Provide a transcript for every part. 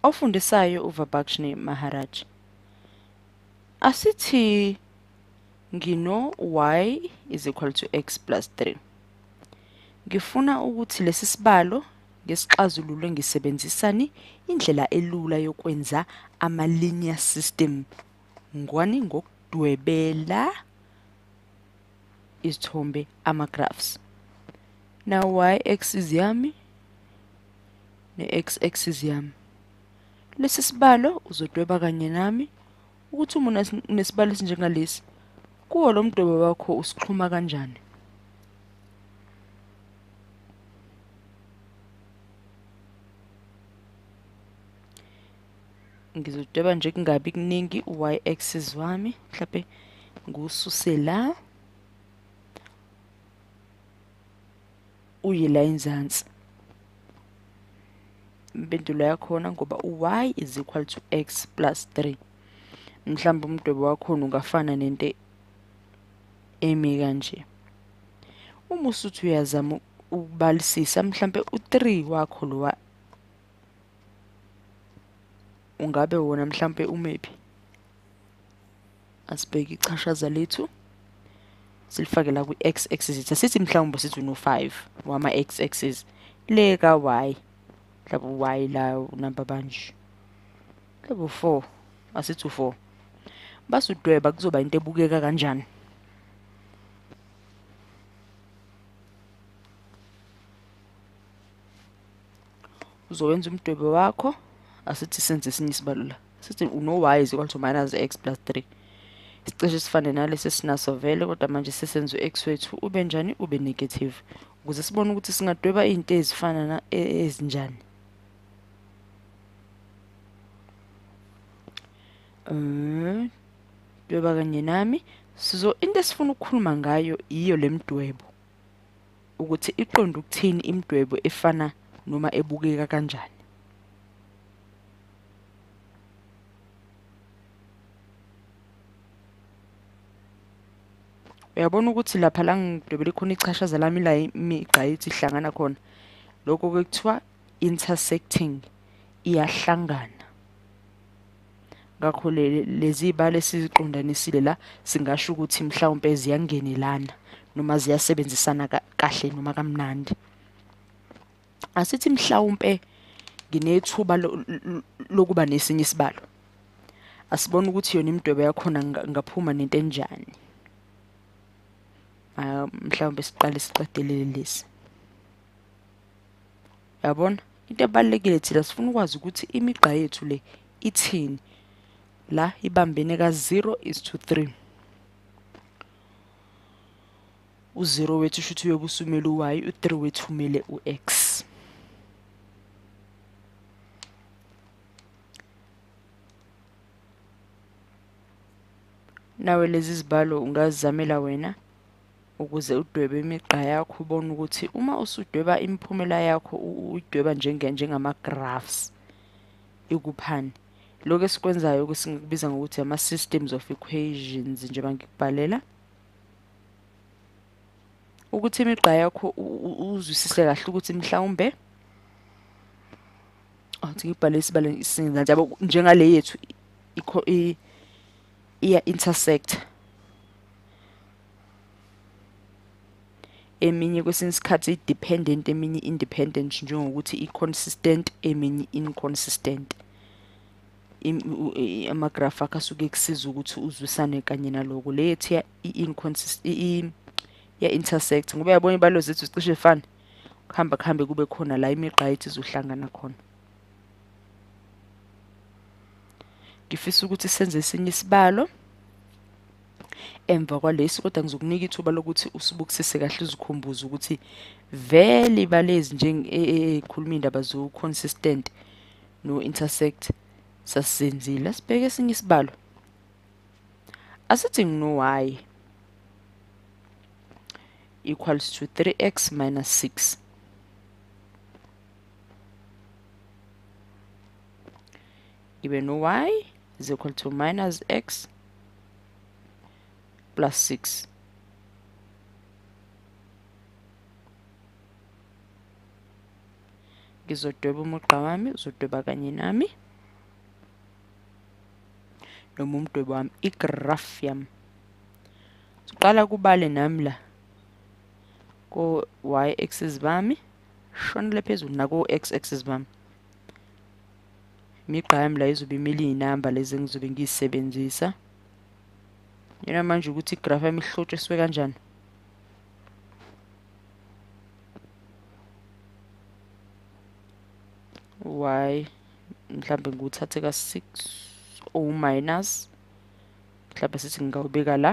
Ofundisayo uVabakshni Maharaj. Asithi ngino y is equal to x plus 3. Ngifuna ukuthi lesi sibalo ngesixazulule ngisebenzisani indlela elula yokwenza ama-linear system ngwani ngokudwebela izithombe ama-graphs now y axis yami ne-x axis yami lesi sibalo uzodweba kanye nami ukuthi uma unesibalo esinjengalesi kuwo lo mdwebo wakho usixhuma kanjani ngizodweba nje kungabi kuningi y axis wami mhlawumbe ngiwususe la uye la enzansi impendulo yakhona ngoba u-y is equal to x plus 3 mhlawumbe umdwebo wakhona ungafana nento emi kanje uma usuthi uyazama ukubalisisa mhlawumbe u-3 wakho lowa ungabe wona mhlampe umephi asibheke ichashaza lethu silifake la kwi-x axis asithi mhlawumbe sithi uno-5 wama-x axis le ka-y mhlawumbe u-y la unamba banje mhlawumbe u-4 asithi u-4 basudweba kuzoba into ebukeka kanjani uzowenza umdwebe wakho asithi senze esinye isibalo la sithi uno-y is equal to minus x plus 3 isicishe esifane nalesi esinaso vele kodwa manje sesenza u-x wethu ube njani ube negative ukuze sibone ukuthi singadweba iy'nto ezifana na e, ezinjani um dweba kanye nami sizo into esifuna ukukhuluma ngayo yiyo le mdwebo ukuthi iqonda ukuthini imidwebo efana noma ebukeka kanjani. Uyabona ukuthi lapha la ngidwebele khona ichashaza lami la imigqa yethi ihlangana khona. Lokho-ke kuthiwa intersecting, iyahlangana. ngakho lezi ibali esiziqondanisile la singasho ukuthi mhlawumpe ziyangenelana noma ziyasebenzisana kahle noma kamnandi asithi mhlawumpe nginethuba lokuba nesinye isibalo asibona ukuthi yona imidwebo yakhona ngaphuma nento enjani ah, mhlawumbe siqale siqedelele lesi yabona into ebalulekile thina sifuna ukwazi ukuthi imigqa yethu le ithini la ibambene ka-0 is to 3 u-0 wethu usho ukuthi uyobe usumele u-y u-3 wethu umele u-x nawe lezi zibalo ungazizamela wena ukuze udwebe imigqa yakho ubone ukuthi uma usudweba imiphumela yakho udweba njenge njengama-graphs ikuphani lokho esikwenzayo ke singikubiza ngokuthi ama-systems of equations njengoba ngikubhalela ukuthi imigqa yakho uzwisise kahle ukuthi mhlawumbe athi ngibhale isibalo isinza njalo njengale yethu ikho i iya intersect eminye kwesinye isikhathi i-dependent eminye independent njengokuthi i-consistent eminye inconsistent amagrafu akho asuke kusiza ukuthi uzwisane kanye naloko le yethi ya-intersect ngoba yabona ibalo zethu zicishe fane kuhamba kuhambe kube khona la imigqa yethu izohlangana khona ngifisa ukuthi senze esinye isibalo emva kwalesi kodwa ngizokunika ithuba lokuthi usibukisise kahle uzikhumbuze ukuthi vele ibalezi njengekhuluma e, e, indaba zo-consistent no-intersect sasizenzile asibheke esinye isibalo asithi ngino-y equals to 3x minus 6 ibe no y is equal to minus x plus 6 ngizodweba umugqa wami uzodweba kanye nami noma umdwebo wami igraph yami siqala kubale nami la ko y axis bami shonele phezulu naku-x axis bami imigqa yami la izobe imele iy'namba lezi engizobe ngiyisebenzisa yena manje ukuthi igrafu yami ihlotshiswe kanjani y mhlambe ngiwuthathe ka-six o minus mhlambe sithi ngingawubeka la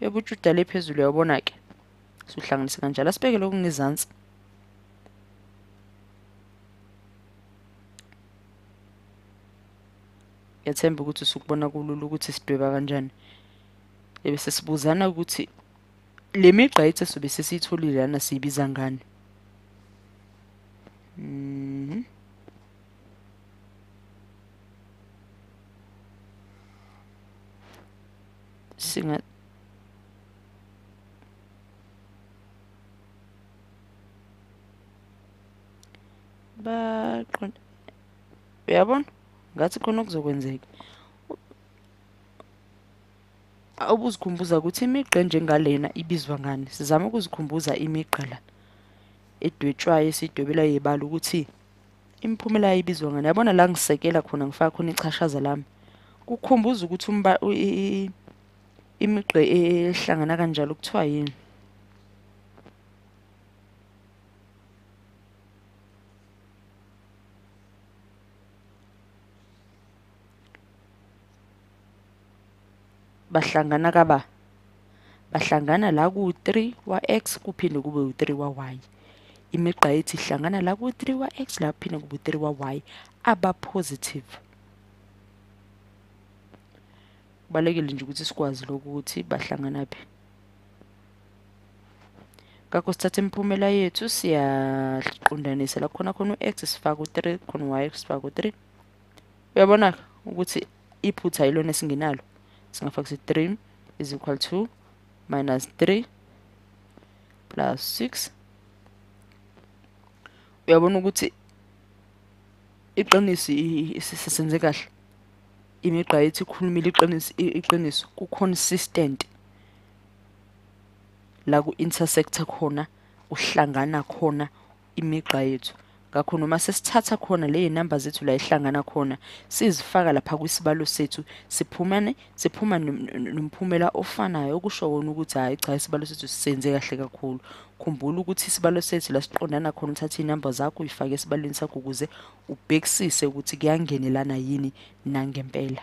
yobujuda le phezulu uyabona-ke suhlanganise kanjalo asibeke lokhu ngezansi ngethemba ukuthi usukubona kulula ukuthi sidweba kanjani ebese sibuzana ukuthi le migqa ethe sobe sesiyitholile lana siyibiza ngani mhm singa baqonda uyabona ngathi khona okuzokwenzeka ubuzikhumbuza ukuthi imigqa enjengalena ibizwa ngani sizama ukuzikhumbuza imigqa la edwetshwayo esidwebelayo yebala ukuthi imiphumela ibizwa ngani yabona la ngisekela khona ngifaka khona ichashaza lami kukhumbuza ukuthi umba imigqe ehlangana kanjalo kuthiwa yini bahlangana kaba bahlangana la ku-3 wa-x kuphinde kube u-3 wa-y imigqa ethi ihlangana la ku-3 wa-x la kuphinde kube u-3 wa-y aba-positive kubalulekile nje ukuthi sikwazi lokhu ukuthi bahlangana phi ngakho sithatha imiphumela yethu siyaqondanisa la khona khona u-x sifaka u-3 khona u-y sifaka u-3 uyabona ukuthi iphutha yilona esingenalo singafaka ukuthi 3 is equal to minus 3 plus 6 uyabona ukuthi iqiniso isisenze kahle imigqa yethu ikhulumile iqiniso iqiniso ku consistent la ku intersector khona uhlangana khona imigqa yethu ngakho noma sesithatha khona leyo namba zethu la ihlangana khona sizifaka lapha kwisibalo sethu siphumane siphuma nomphumela ofanayo okusho wona ukuthi hayi cha isibalo sethu sisenze kahle kakhulu khumbula ukuthi isibalo sethu la siqondana khona uthatha inamba zakho uyifake esibalweni sakho ukuze ubhekisise ukuthi kuyangenelana yini nangempela